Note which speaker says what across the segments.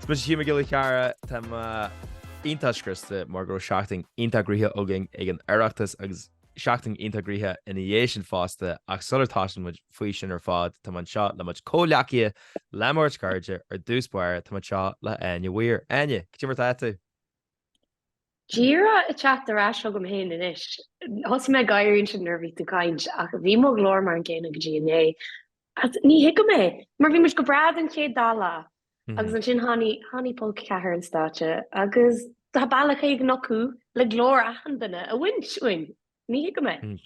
Speaker 1: Is mise Hugh Mac Giolla Chearra. Tá mé iontach scriosta mar go raibh seachtain iontach gnaitheach againn ag an Oireachtas agus seachtain iontach gnaitheach ina dhiaidh sin fosta ach sula dtosaíonn muid faoi sin ar fad tá mé anseo le mo chomhghleacaithe le mo bheirt chairde, ar dtús báire tá mé anseo le hÁine Weir. Áine, cad é mar atá tú?
Speaker 2: Díreach ag teacht ar ais chugam fhéin anois. Thosaigh mé ag gáire ansin nuair a bhí tú ag caint, ach bhí mo ghlór mar an gcéanna go dtí inné. Ach ní thuigim é, mar bhí muid go breá don chéad dá lá, agus ansin tháinig, tháinig Polca Ceathair ar an stáitse agus tá bealach éigin acu le glór achan duine a bhaint uainn. Ní thuigim é.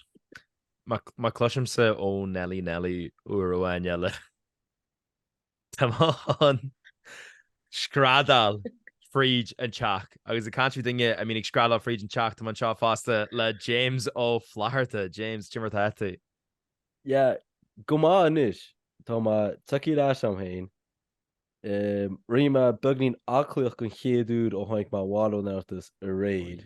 Speaker 1: Má cloisimse Ó Neilí Neilí uair amháin eile. Tá mé ag screadaíl fríd an teach agus ag caint ar dhuine a bhíonn ag screadaíl fríd an teach tá mé anseo fosta le James Ó Flatharta. James, cad é mar atá tú?
Speaker 3: Yeah, go maith anois. Tá mé tagtha ar ais chugam féin. Rinne mé beagnín aclaíocht don chéad uair ó tháinig mé abhaile ón Oireachtas aréir.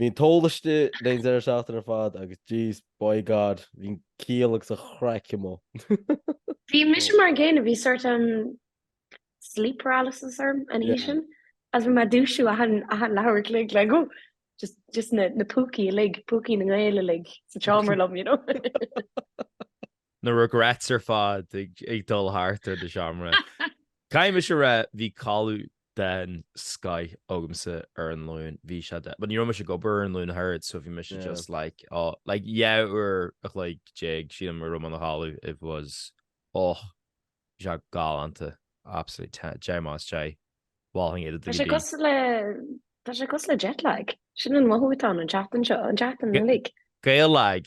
Speaker 3: Bhí an t-ól istigh le haghaidh an deireadh seachtaine ar fad agus jeez, by God, bhí an ciall agus an chraic amuigh. Bhí
Speaker 2: mise mar an gcéanna, bhí sort an sleep paralysis orm an oíche sin, is bhí mé ag dúisiú achan leathuair a chloig le go, just na púcaí uilig, púcaí na nGael uilig sa tseomra liom, you know.
Speaker 1: Na regrets ar fad ag dul thart ar do sheomra. Caithfidh mise a rá, bhí codladh den scoith agamsa ar an Luan, bhí sé de. But ní raibh mise ag obair ar an Luan thart, so bhí mise just like, oh, like dhá uair a chloig déag, sílim, go raibh mé i mo chodladh, it was, oh, bhí sé galánta, absolutely, deich amach as deich, mholfainn é d'achan duine. Tá sé cosúil le,
Speaker 2: tá sé cosúil le jet lag, sin an mothú atá ann an tseachtain seo, an tseachtain uilig. Gael lag,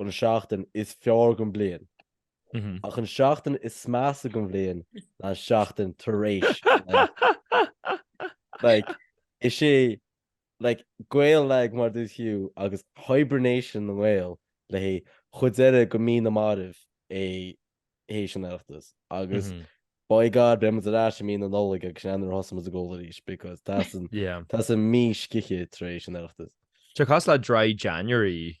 Speaker 3: an seachtain is fearr den bhliain, ach an seachtain is measa den bhliain ná an seachtain tar éis na Like, is é like Gael Lag mar dúirt Hugh agus hibernation na nGael le haghaidh an chuid deiridh de mhí na marbh é tar éis an Oireachtas agus by God beimid ar ais i mí na Nollag agus sin é nuair a thosaímid ag ól arís because teastaíonn teastaíonn mí scíthe tar éis an Oireachtas. Tá sé cosúil le dry
Speaker 1: January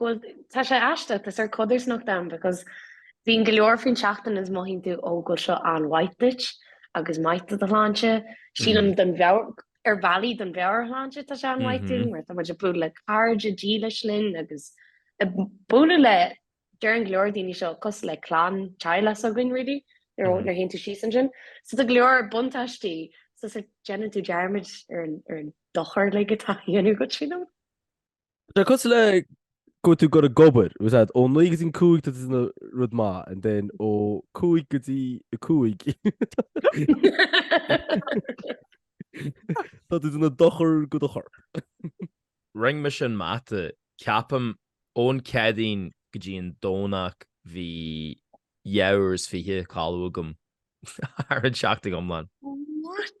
Speaker 2: Bhuel, tá sé aisteach, tá sórt codarsnacht ann because bhíonn go leor faoin seachtain is mothaíonn tú ó bhuel seo an-mhaith duit agus maith do do shláinte. Sílim don mheabhair, ar bhealaí don mheabhairshláinte tá sé an-mhaith dúinn mar tá muid ag bualadh le cairde dílis linn agus ag bualadh le, deireann go leor daoine seo cosúil le clann, teaghlach s'againn really, nuair a théann tú síos ansin. So tá go leor buntáistí, so déanann tú dearmad ar an dochar like atá á dhéanamh duit, you know.
Speaker 3: Tá cosúil le go bhfuil tú ag goil ag obair, ús ad, ó 9 go dtí 5 tá tú ag déanamh rud maith, and then ó 5 go dtí 5. Tá tú ag déanamh dochar go do
Speaker 1: chorp. Rinne mise an mata, ceapaim ón Céadaoin go dtí an Domhnach bhí dhá uair is fiche codladh agam ar an tseachtain iomlán. What?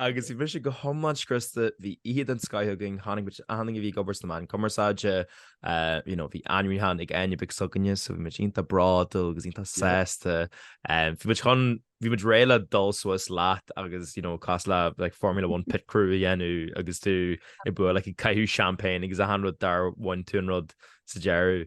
Speaker 1: Agus bhí mise go hiomlán scriosta, bhí oíche den scoith againn, tháinig achan duine a bhí ag obair sna meáin cumarsáide, you know, bhí ainmniúchán ag Áine beag s'againne, so bhí muid iontach bródúil agus iontach sásta. Bhí muid chun, bhí muid réidh le dul suas leat agus, you know, cosúil le like Formula One pit crew a dhéanamh agus tú ag bualadh like ag caitheamh seaimpéin agus achan rud dar bhain tú an rud sa deireadh.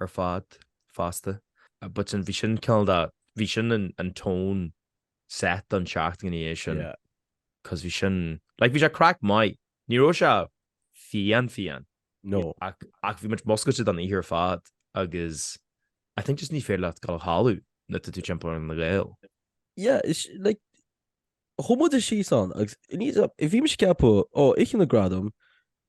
Speaker 1: ar fad fosta. But sin, bhí sin cineál de, bhí sin an tone set don tseachtain i ndiaidh sin. Yeah. Cos bhí sin, like, bhí sé craic maith. Ní raibh sé fiáin fiáin.
Speaker 3: No. Ach, ach bhí
Speaker 1: muid múscailte don oíche ar fad agus I think just ní féidir leat dul a chodladh nuair tá tú timpeall ar na Gaeil. Yeah, is,
Speaker 3: like, Chuaigh muide síos ann agus bhí mise ag ceapadh ó Oíche na nGradam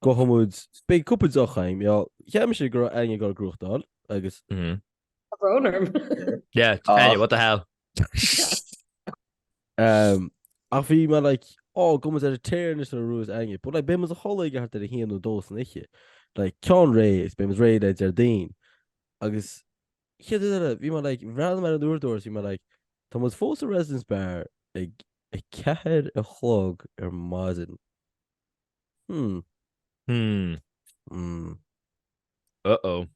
Speaker 3: gabhfaidh muid, beidh cúpla deoch a'm, yeah, cheap mise go raibh Áine ag dul ag gnóthachtáil agus. Mhm. Tá brón orm.
Speaker 1: Yeah, Áine, what the hell?
Speaker 3: Umm, ach bhí mé like, oh, gabhfaidh muid ar an tear anois nuair a bhuas Áine, but like, beidh muid a chodladh ag thart ar a haon nó dó san oíche. Like, ceann réidh, is beidh muid réidh le Déardaoin. Agus chéad rud eile, bhí mé like, bhreathnaigh mé ar an uaireadóir agus bhí mé like, tá muid fós sa Residence Bar ag a ceathair a chlog ar maidin. Hmm. Hmm. Mm.
Speaker 1: Uh-oh.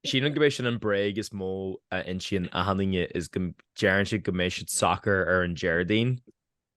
Speaker 1: Sílim gurb é sin an bhréag is mó a insíonn achan duine is deireann siad go mbeidh siad socair ar an Déardaoin.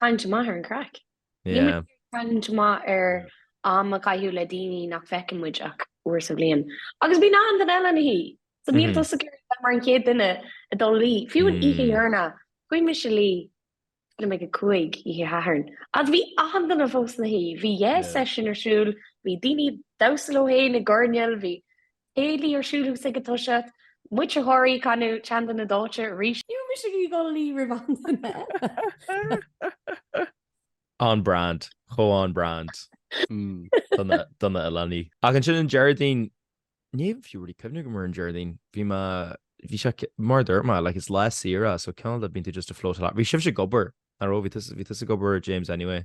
Speaker 2: Cailliúint amach ar an craic. Yeah. Cailliúint amach ar am a chaitheamh le daoine nach bhfeiceann muid ach uair sa bhliain. Agus bíonn achan duine eile ina shuí. So níl tusa ag iarraidh mar an chéad duine a dul a luí. Fiú an oíche dheireanach, chuaigh mise a luí leath i ndiaidh a cúig oíche Shathairn. Agus bhí achan duine fós ina shuí. Bhí yeah session ar siúl, bhí daoine ag damhsa leo féin i gcoirnéal, bhí Céilí ar siúl thú ag toiseacht, muintir Thoraí ag canadh an tSeanduine Dóite arís. Níl mise ag goil a luí roimh aon
Speaker 1: duine. On brand, chomh on brand do na hoileánaigh. Ach ansin an Déardaoin, ní haon fiú really cuimhneamh go mór an Déardaoin, bhí mé, bhí sé, mar a dúirt mé, like it's lá saoire so cineál de bíonn tú just a float along, bhí sibhse ag obair, nach raibh, bhí tusa ag obair James anyway.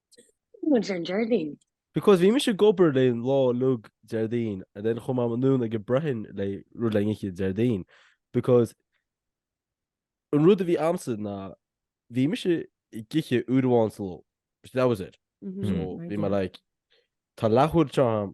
Speaker 2: Muintir Déardaoin. Because bhí mise
Speaker 3: ag obair leis an lá uilig Déardaoin and then chuaigh mé anonn ag an Breithin le rud oíche Déardaoin because an rud a bhí ann ná bhí mise ag ithe uair amháin sa ló. That was it. So bhí mé like tá leath uair anseo agam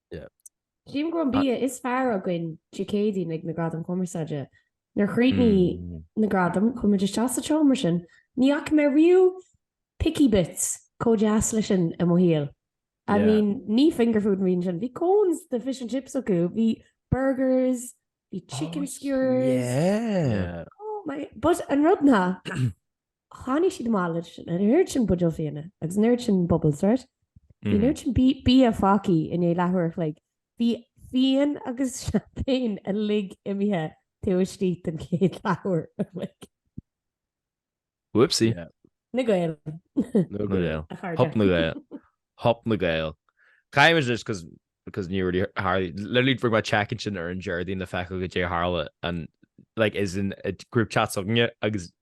Speaker 4: Sílim go raibh an bia is fearr againn Dé Céadaoin ag na Gradaim Cumarsáide. Nuair a chríochnaigh na Gradaim, chuaigh muid isteach sa tseomra sin, ní fhaca mé riamh picky bits chomh deas leis sin i mo shaol. I mean, ní finger food a bhí ann sin, bhí cones de fish and chips acu, bhí burgers, bhí chicken skewers, oh
Speaker 1: my, but
Speaker 4: an rud ná, Tháinig siad amach leis an oiread sin buidéal fíona agus an oiread sin bubbles, right? Bhí an oiread sin bia fágtha i ndiaidh leathuair a chloig. Bhí fíon agus champagne uilig imithe taobh istigh den chéad leathuair a chloig.
Speaker 1: Whoopsie. Na Gaeil. Na
Speaker 4: Gaeil. A
Speaker 1: chairde. Hop na Gaeil. Hop na Gaeil. Caithfidh muid anois, just because ní raibh, hardly, literally fuair mé check-in ansin ar an Déardaoin le feiceáil goidé a tharla ann, like, isteach sa group chat s'againne agus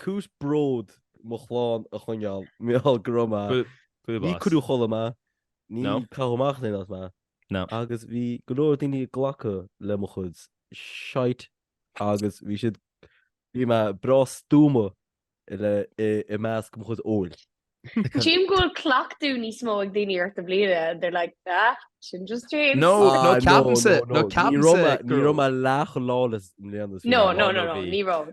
Speaker 3: Cúis bród mo chlann a choinneáil, Micheál, go raibh maith. Go raibh maith. Níor cuireadh a chodladh mé, níor caitheadh amach as mé. Ná. Agus bhí go leor daoine ag glacadh le mo chuid shite agus bhí siad, bhí mé breá stuama i measc mo chuid óil. Sílim go
Speaker 2: bhfuil cleachtadh níos mó ag daoine ort i mbliana and they're like, ah, sin just
Speaker 1: James. No, no, ceapann-sa, no, ceapann-sa. Ní raibh mé
Speaker 3: leath chomh lawless i mbliana. No, no, no, no,
Speaker 2: ní raibh.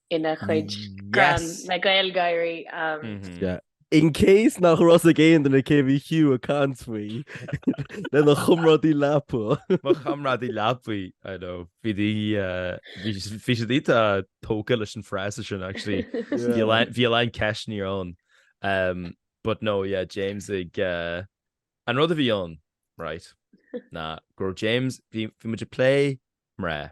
Speaker 2: ina chuid greann le Gaeilge.
Speaker 3: In case nach raibh a fhios ag aon duine cé bhí Hugh ag caint faoi lena chomrádaí leapa. Mo chomrádaí
Speaker 1: leapa, I know. Bhí siad iontach tógtha leis an fhrása sin actually. Bhí a lán ceisteanna ann. But no, yeah, James ag... An rud a bhí ann, right, ná go raibh James, bhí muid ag plé mná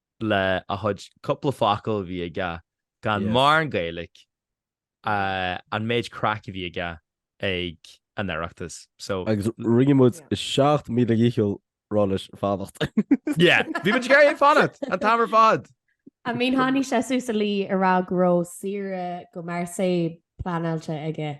Speaker 1: le a chuid cúpla focal a bhí aige gan mórán Gaeilge an méid craic a bhí aige ag an Oireachtas. So. Agus rinne muid
Speaker 3: 7,000 ndícheall rá leis fanacht. Yeah, bhí
Speaker 1: muid ag iarraidh é fanacht an t-am ar fad. I mean tháinig
Speaker 4: sé suas an lá a rá go raibh saoire go Marseille pleanáilte aige.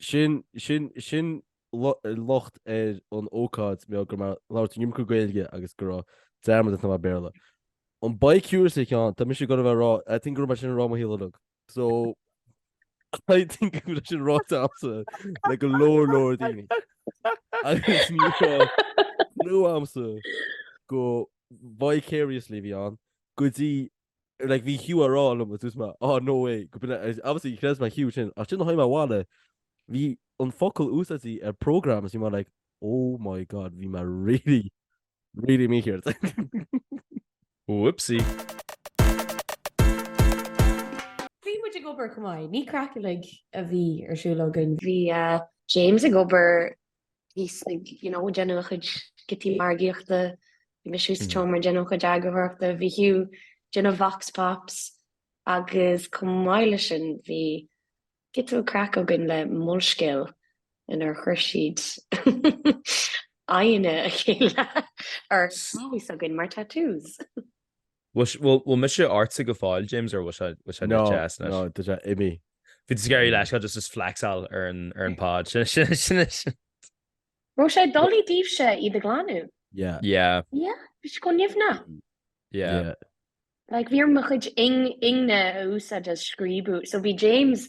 Speaker 3: Sin, sin, sin locht ar an ócáid mar go raibh mé ag labhairt an iomarca Gaeilge agus go raibh dearmad ar mo Bhéarla. An bi-curiously ceann, tá mise ag gabháil a rá, I think go raibh mé sin ar mo shíológ. So I think go raibh sin ráite agamsa le go leor leor daoine. Agus ní amsa go vicariously a bhí ann go dtí like bhí Hugh á rá liom dúirt mé ah no way obviously níor chreid mé Hugh sin ach ansin tháinig mé abhaile bhí an focal úsáidte ar program is bhí mé like oh my god bhí mé really really
Speaker 1: mícheart
Speaker 4: whoopsie Bhí muid ag obair go maith, ní craic uilig a bhí ar siúl againn. Bhí
Speaker 2: James ag obair thíos ag you know, déanamh a chuid giotaí margaíochta, bhí mise thuas sa tseomra ag déanamh mo chuid eagarthóireachta, bhí Hugh ag déanamh vox pops agus chomh maith le sin bhí giota craic againn le Molscéal inar chuir siad aghaidheanna a chéile ar lámha s'againn mar tattoos.
Speaker 1: Bhfuil, bhfuil, bhfuil mise ortsa go fóill, James, or bhfuil sé, bhfuil sé No, deas no, anois? tá sé
Speaker 3: imithe. Bhí tusa ag iarraidh
Speaker 1: leithscéal just flexáil ar an, ar an pod. Sin, sin, sin, sin.
Speaker 2: Raibh sé doiligh daoibhse iad a ghlanadh. Yeah.
Speaker 3: Yeah, Yeah, bhí
Speaker 2: sé chomh nimhneach.
Speaker 1: yeah. Yeah. Like, bhí
Speaker 2: orm mo chuid ing, ingne a úsáid is scríobadh. So bhí James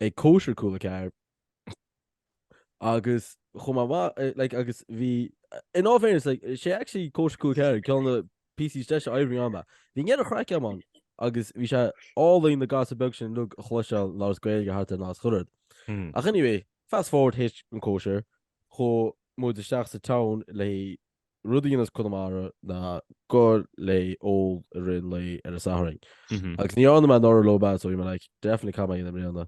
Speaker 3: ag cóisir Cúla4 agus chomh maith mhaith, eh, like, agus bhí, in all fairness, like, sé actually cóisir Cúla4 ceann de na píosaí is deise oibre a rinne mé. Bhí an ghéarchraic a'm ann agus bhí sé álainn na gasúir bheaga sin uilig a chloisteáil ag labhairt as Gaeilge thart ar nás chorrad. Hmm. Ach anyway, fast forward tar éis an cóisir, chuaigh muid isteach sa town le rud a dhéananns Conamara ná goil ag ól i rith an lae ar an Satharn. Agus ní dhearna mé anuraidh leo but so bhí mé like definitely caithfidh mé é a dhéanamh i mbliana.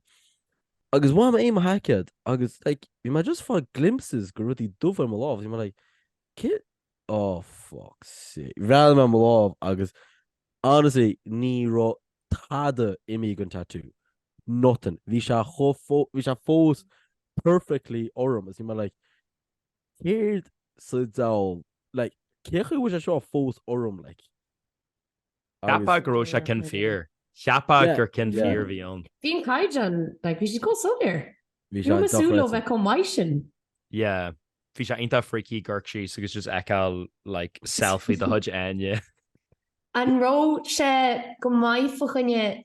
Speaker 3: Agus bhain mé díom mo sheaicéad agus like bhí mé just ag fáil glimpses de rudaí dubha ar mo lámh agus bhí mé like céard oh fuck sake. Bhreathnaigh mé ar mo lámh agus honestly ní raibh tada imithe den tattoo. Nothing. Bhí sé chomh fó- bhí sé fós perfectly orm agus bhí mé like Céard sa diabhal, like, cén chaoi a bhfuil sé seo fós orm,
Speaker 1: like? Cheapfá go raibh sé cinn fíor. Cheapfá gur cinn fíor a bhí ann. Bhí an caighdeán,
Speaker 4: like, bhí siad chomh soiléir. Bhí sé dochreidte. Ní raibh mé ag súil
Speaker 3: leo bheith
Speaker 4: chomh maith sin.
Speaker 1: Yeah. Bhí sé iontach freaky, ag amharc síos agus just ag feiceáil, like, selfie de chuid Áine. An
Speaker 4: raibh sé go maith fa choinne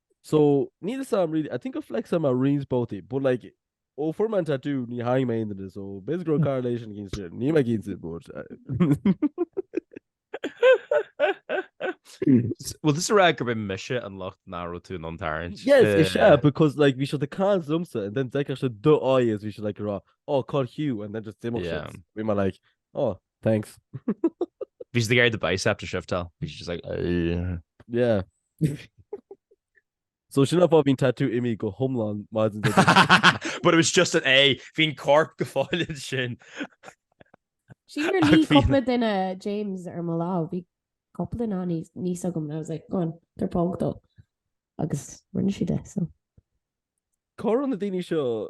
Speaker 3: So, níl fhios a'm really, I think gur flexáil mé i roinnt spotaí, but like, ó fuair mé an tatú, níor tharraing mé aon duine, so b'fhéidir go raibh correlation i gceist ansin, níl mé cinnte, but...
Speaker 1: Bhfuil tusa ag rá gurb é mise an locht nach raibh tú in ann tarraingt? Yes, is ea, eh.
Speaker 3: because like, bhí siad ag caint liomsa and then d'fheicfeadh siad do aghaidh is bhí siad like ag rá, oh, cá bhfuil Hugh, and then just d'imeodh siad. Yeah. Bhí mé like, oh, thanks.
Speaker 1: Bhí siad ag iarraidh do bicep a shiftáil. Bhí siad just like, "Ugh." Yeah.
Speaker 3: So sin an fáth bhí an tatú imithe go hiomlán maidin do But it
Speaker 1: was just an aghaidh, bhí an corp go fóill ansin.
Speaker 4: Sí ar ní cúpla duine James ar mo lámh, bhí cúpla ná níos agam and I was like go on tabhair póg dó agus rinne siad é so.
Speaker 3: Córan na daoine seo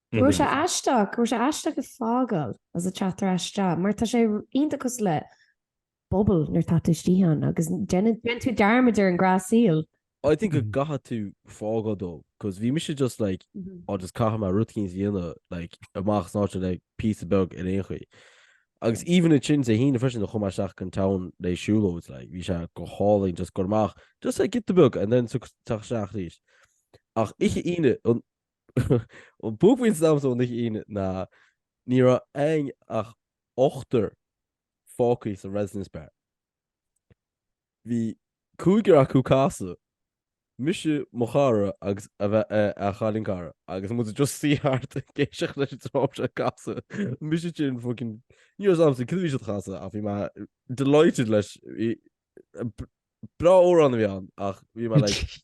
Speaker 3: Go raibh
Speaker 4: sé aisteach, go raibh sé aisteach ag fágáil is ag teacht ar ais isteach mar tá sé iontach cosúil le bubble nuair atá tú istigh ann agus déanann déanann tú dearmad ar an ngnáthshaol. I think go gcaithfidh
Speaker 3: tú fágáil though 'cause bhí mise just like á just caithfidh mé rud eicínt a dhéanamh like amach as an áit sin le píosa beag ar aon chaoi. Agus even ansin Dé hAoine freisin chuaigh mé isteach ag an town le siúlóid like bhí sé go hálainn just goil amach just like giota beag and then ag teacht isteach arís. Ach oíche Aoine an An buaicphointe domsa ón oíche Aoine, ná ní raibh ann ach ochtar fágtha sa Residents' Bar. Bhí cúigear acu ag casadh, mise, mo chara agus a bheith a chailín cara, agus muid just suí thart ag éisteacht leis an dream seo ag casadh, mise ansin fucking, ní raibh fhios a'm cad a bhí siad ag casadh ach bhí mé delighted leis, breá amhrán a bhí ann ach bhí mé like,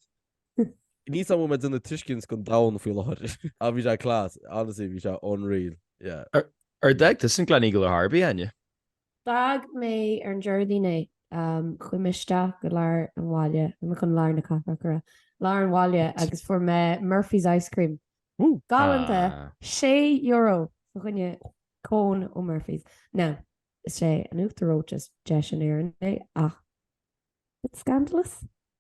Speaker 3: Ní samhail me duna tuiscint gon domhan faoi láthair. Ah bhí sé class, honestly bhí sé unreal, yeah. Ar d'fhág
Speaker 1: tusa an Gleneagle ar chor ar bith, Eithne? D'fhág
Speaker 4: mé ar an Déardaoin é. Chuaigh mé isteach go lár an bhaile, nó chun lár na cathrach go raibh, lár an bhaile agus fuair mé Murphy's ice cream. Galánta, €6 fá choinne cone ó Murphy's. Now, is é an t-uachtar reoite is deise in Éirinn é ach, bit scandalous?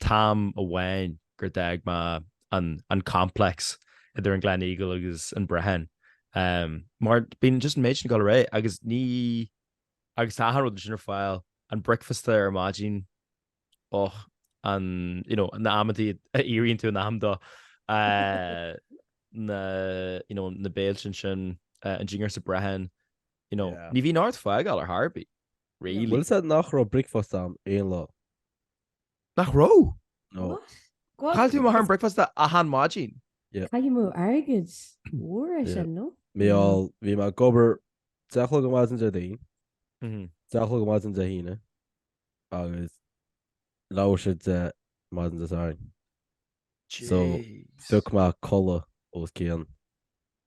Speaker 1: An t-am amháin gur d'fhág mé an complex idir an Gleneagle agus an Brehon. Mar bíonn just an méid sin ag goil ar aghaidh agus ní, agus tá achan rud ansin ar fáil, an bricfeasta ar maidin, och, an, you know, na hamantaí a éiríonn tú in am dó, na, you know, na béiltí ansin, an dinnéar sa Brehon, you know, ní bhíonn ort fágáil ar chor ar bith, really. Bhuel is ea nach raibh
Speaker 3: bricfeasta a'm aon lá.
Speaker 1: Nach raibh? No.
Speaker 3: What? Go on. Chaill tú amach
Speaker 1: ar an bricfeasta achan maidin. Cur amú
Speaker 4: airgid mhór é sin, no? Bhuel, bhí mé ag
Speaker 3: obair deich a chlog maidin Déardaoin, Mhm. deich a chlog maidin Dé hAoine agus leathuair tar éis a deich maidin Dé Sathairn. So, Jeez. Bheadh mé ag codladh os cionn.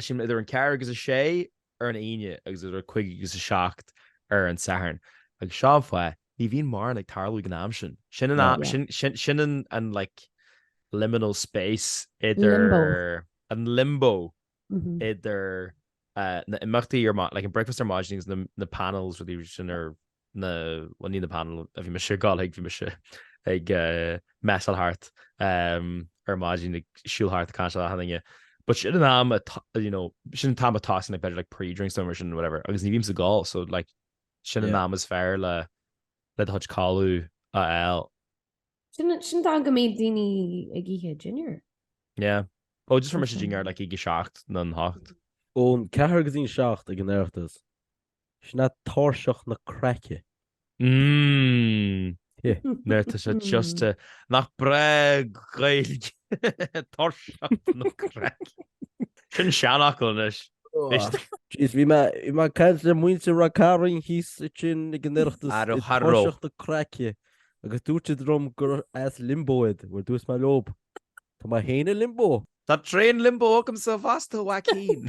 Speaker 1: Eisean idir an 4 agus 6 ar an Aoine agus idir 5 agus 7 ar an Satharn. Agus seo an fáth, ní bhíonn mórán ag tarlú ag an am sin. Sin an am, sin, sin an, an like liminal space idir, Limbo. an limbo Mhm. idir uh, na imeachtaí ar maidin, like an breakfast ar maidin agus na, na panels is rudaí sin ar na, bhuel ní na panel, a bhí mise ag gabháil chuig, bhí mise ag moseyáil thart ar maidin ag siúl thart caint le daoine. But sin an am, you know, sin an t-am atá siad ag tosaí like pre-drinks nó mar sin whatever, agus ní bhím sásta gabháil, so like sin an am is fearr le do chuid codlata a fháil.
Speaker 4: Sin nó go mbíonn daoine ag ithe dinnéir. Yeah.
Speaker 1: Oh, just faighim mo dhinnéar like ag 7 nó 8. Ón
Speaker 3: 4 go dtí an 7 ag an Oireachtas. Sin é tairseach na craice.
Speaker 1: Mmm. Mar tá sé just, nach breá an Ghaeilge, tairseach na craice. Sin seanfhocal anois.
Speaker 3: Jeez, bhí mé, bhí mé ag caint le muintir Ráth Cairn thíos ansin ag an Oireachtas, ar tairseach na craice, agus dúirt siad liom gur as Limbo iad, bhuel dúirt mé leob, tá mé féin i Limbo! Tá tréimhse Limbo
Speaker 1: agamsa fosta, Joaquin!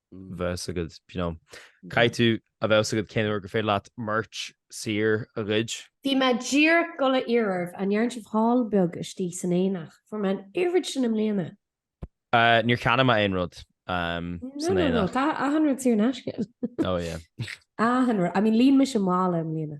Speaker 1: a fhios agat you know. Caithfidh tú a fhios a bheith agat cén uair gur féidir leat merch saor a ghoid. Bhí mé díreach
Speaker 4: ag goil a fhiafraí an ndearna sibh haul beag istigh san aonach fuair mé an oiread sin i mbliana. Uh,
Speaker 1: níor cheannaigh mé aon rud um, No, san
Speaker 4: no, no, aonach. tá achan rud saor in aisce. Oh yeah.
Speaker 1: Achan rud, I
Speaker 4: mean, líon mise mála i mbliana.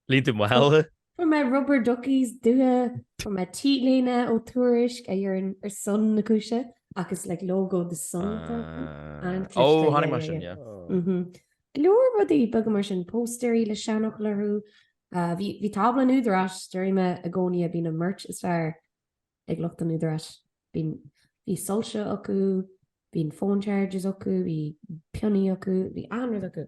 Speaker 4: Líon tú
Speaker 1: mála. Fuair mé
Speaker 4: rubber duckies daite, fuair mé t-léine ó Tuairisc a deireann ar son na cúise ach is like logo the sun atá acu. An-chliste.
Speaker 1: Ó, chonaic mé sin, yeah. Mhm. Go
Speaker 4: leor rudaí beaga mar sin, póstaeirí le seanfhocail orthu. Ah, bhí, bhí tábla an údaráis, déarfaidh mé, i gcónaí a bhíonn an merch is fearr ag lucht an údaráis. Bhí, bhí soilse acu, bhí an phone chargers acu, bhí pionnaí acu, bhí achan rud acu.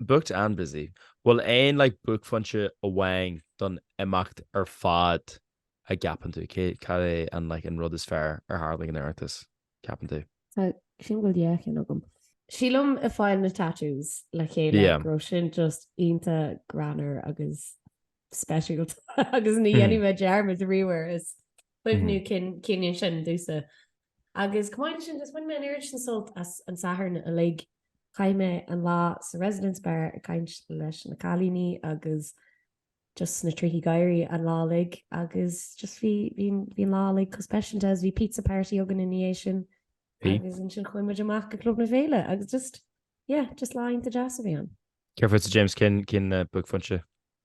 Speaker 4: Booked and
Speaker 1: busy. Bhfuil aon like buaicphointe amháin don imeacht ar fad a gceapann tú? Cé, cad é an like, an rud is fearr a tharla ag an Oireachtas, ceapann tú? Sílim go bhfuil
Speaker 4: dhá cheann agam. Sílim ag fáil na tattoos le chéile Yeah. go raibh sin just iontach greannmhar agus speisialta agus ní dhéanfaidh mé dearmad riamh air is cuimhniú cinn an ceann sin, domhsa. Agus chomh maith leis sin just bhain mé an oiread sin sult as an Satharn uilig. Chaith mé an lá sa Residence Bar ag caint leis na cailíní agus just sna trithí gáire an lá uilig agus just bhí, bhí, bhí an lá uilig chomh speisialta. Bhí pizza party againn ina dhiaidh sin Bhí. agus ansin chuaigh muid amach go Club na Féile agus just, yeah, just lá iontach deas a bhí ann. Céard fútsa James, cén,
Speaker 1: cén uh, buaicphointe?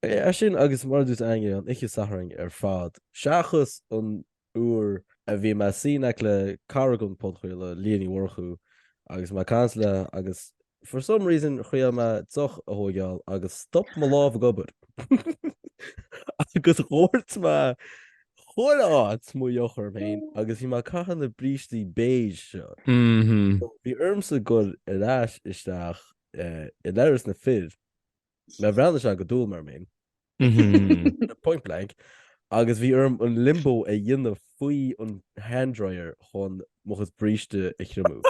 Speaker 3: Bhuel sin agus mar a dúirt Aingeal, an oíche Sathairn ar fad, seachas an uair a bhí mé i mo shuí in aice le cara an phodchraolta, Liadh Ní Mhurchú, agus mé ag caint léi agus for some reason thriail mé deoch a thóigeáil agus stop mo lámh ag obair. agus dhóirt mé chuile áit mo dheoch orm féin agus bhí mé ag caitheamh na brístí béasa seo. Bhí ormsa goil ar ais isteach i leithreas na bhfear. Bhreathnaigh sé go dúil, mar mhún. Point blank. Agus bhí orm an limbo a dhéanamh faoi an handdryer chun mo chos bríste a thriomú.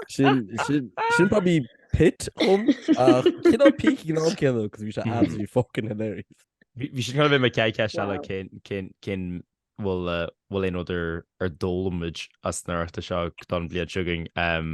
Speaker 3: Sin, sin, sin probably pit dom, ach cineál peak ag an am céanna, cos bhí sé absolutely fucking hilarious. Bhí bhí sin chun
Speaker 1: bheith mo chéad cheist eile Wow. cén cén cén bhfuil uh, bhfuil aon rud a a d'fhoghlaim muid as an Oireachtas seo don bliain seo chugainn um,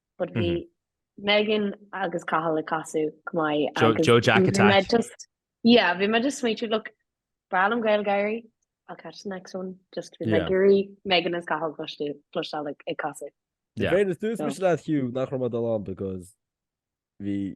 Speaker 2: but bhí Megan agus Cathal ag casadh chomh maith agus Joe Jack attack.
Speaker 1: Just, yeah, bhí
Speaker 2: mé just ag smaoitiú, look, breá liom GaelGáirí, I'll catch the next one, just bhí mé ag iarraidh Megan is Cathal a chloisteáil ag casadh. Yeah. Fair is
Speaker 3: dúirt mise le Hugh nach raibh mé ag dul ann because bhí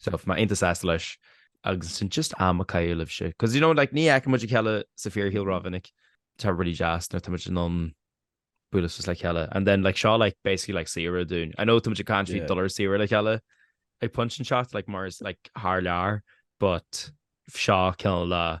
Speaker 1: So bhí mé iontach sásta leis agus sin just am a chaitheamh libhse. Cos you know like ní fheiceann muid a chéile sa fíorshaol rómhinic. Tá really deas nuair tá muid in ann bualadh suas le chéile. And then like seo like basically like saoire dúinn. I know tá muid ag caint faoi Yeah. dul ar saoire le chéile ag pointe inteacht like mar is like thar lear but seo cineál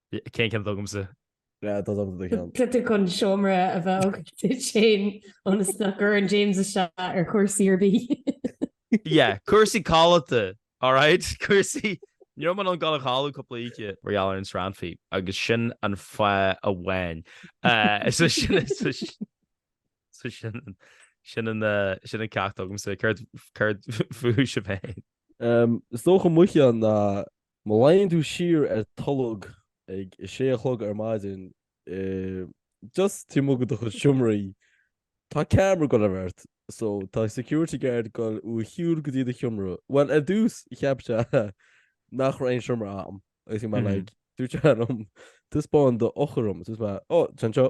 Speaker 4: Cén ceann
Speaker 1: atá agamsa? Dá dtugtar
Speaker 3: do cheann. B'fhéidir chun
Speaker 4: seomra a bheith agat duit féin ionas nach gcuireann James isteach ar chúrsaí ar bith. Yeah,
Speaker 1: cúrsaí codlata, alright? Cúrsaí, ní raibh mé in ann dul a chodladh cúpla oíche mar gheall ar an srannfaí agus sin an fáth amháin. So sin, so so sin, sin an, sin an ceacht agamsa. Céard, céard fúibhse féin? Is dócha
Speaker 3: mo cheann ná Má luíonn tú siar ar tholg ag a sé a chlog ar maidin just taobh amuigh do chuid seomraí, tá camera ag dul a bheith ort so tá security guard ag dul thú a shiúl go dtí do sheomra. Bhuel, ar dtús cheap sé nach raibh aon seomra a'm agus bhí mé like dúirt sé liom taispeáin d'eochair dom agus bhí mé oh, tá sé anseo.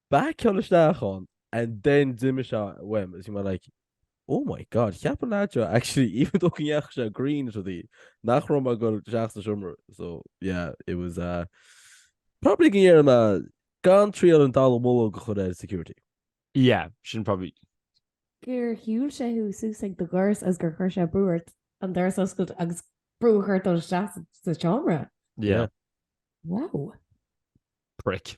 Speaker 3: Bhí mé ag dul isteach ann and then d'imigh sé uaim. Is bhí mé like, oh my God, cheap an leaid seo actually even though go ndeachaigh sé green is rudaí, nach raibh mé ag dul isteach sa seomra. So yeah, it was uh, probably go ndéarfaidh mé gan triail an dallamullóg a chur ar security.
Speaker 1: Yeah, sin probably.
Speaker 4: gur shiúil sé thú suas ag do dhoras agus gur chuir sé brú ort an doras a oscailt agus brú a chur ort dul isteach sa- sa seomra. Yeah,
Speaker 1: Wow. prick.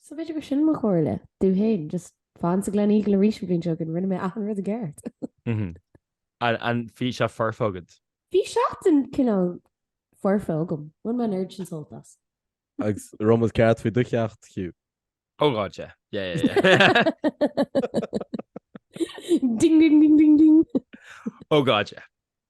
Speaker 4: So b'fhéidir gur sin mo chomhairle domh féin, just fan sa Glen Eagle arís an bhliain seo chugainn, rinne mé achan rud i
Speaker 1: gceart. And bhí sé foirfe agat? Bhí seachtain
Speaker 4: cineál foirfe agam, bhain mé an oiread sin sult as.
Speaker 3: Agus raibh muid ceart faoi do cheacht, Hugh? Oh God,
Speaker 1: yeah. Yeah, yeah,
Speaker 4: yeah. Ding ding ding ding ding. Oh God,
Speaker 1: yeah.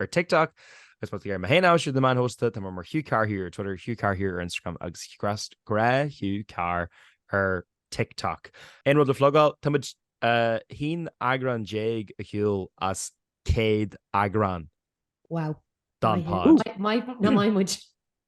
Speaker 1: ar TikTok agus má tá tú ag iarraidh mé féin a aimsiú the man host tá mé mar Hugh Carr here ar Twitter, Hugh Carr here ar Instagram agus grá Hugh Carr ar TikTok. Aon rud le flogáil? Táimid 11 eagrán ar shiúl as 100 eagrán. Wow.
Speaker 4: Don pod.
Speaker 1: Nach maith
Speaker 4: muid.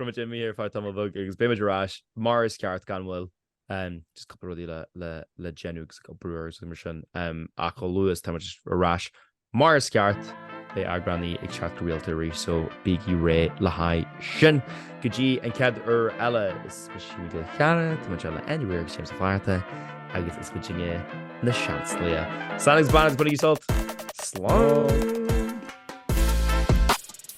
Speaker 1: Beimid imithe ar feadh tamall beag agus beimid ar ais mar is ceart gan mhoill. Just cúpla rudaí le déanamh agus ag oibriú agus mar sin ach chomh luath is táimid ar ais mar is ceart beidh eagránaí ag teacht go rialta arís so bígí réidh le haghaidh sin. Go dtí an chéad uair eile is mise Hugh Mac Giolla Chearra, tá muid ann le Andy Weir agus James Ó Flatharta agus is muidinne Na Seansálaithe. Slán agus beannacht agus bainigí sult! Slán!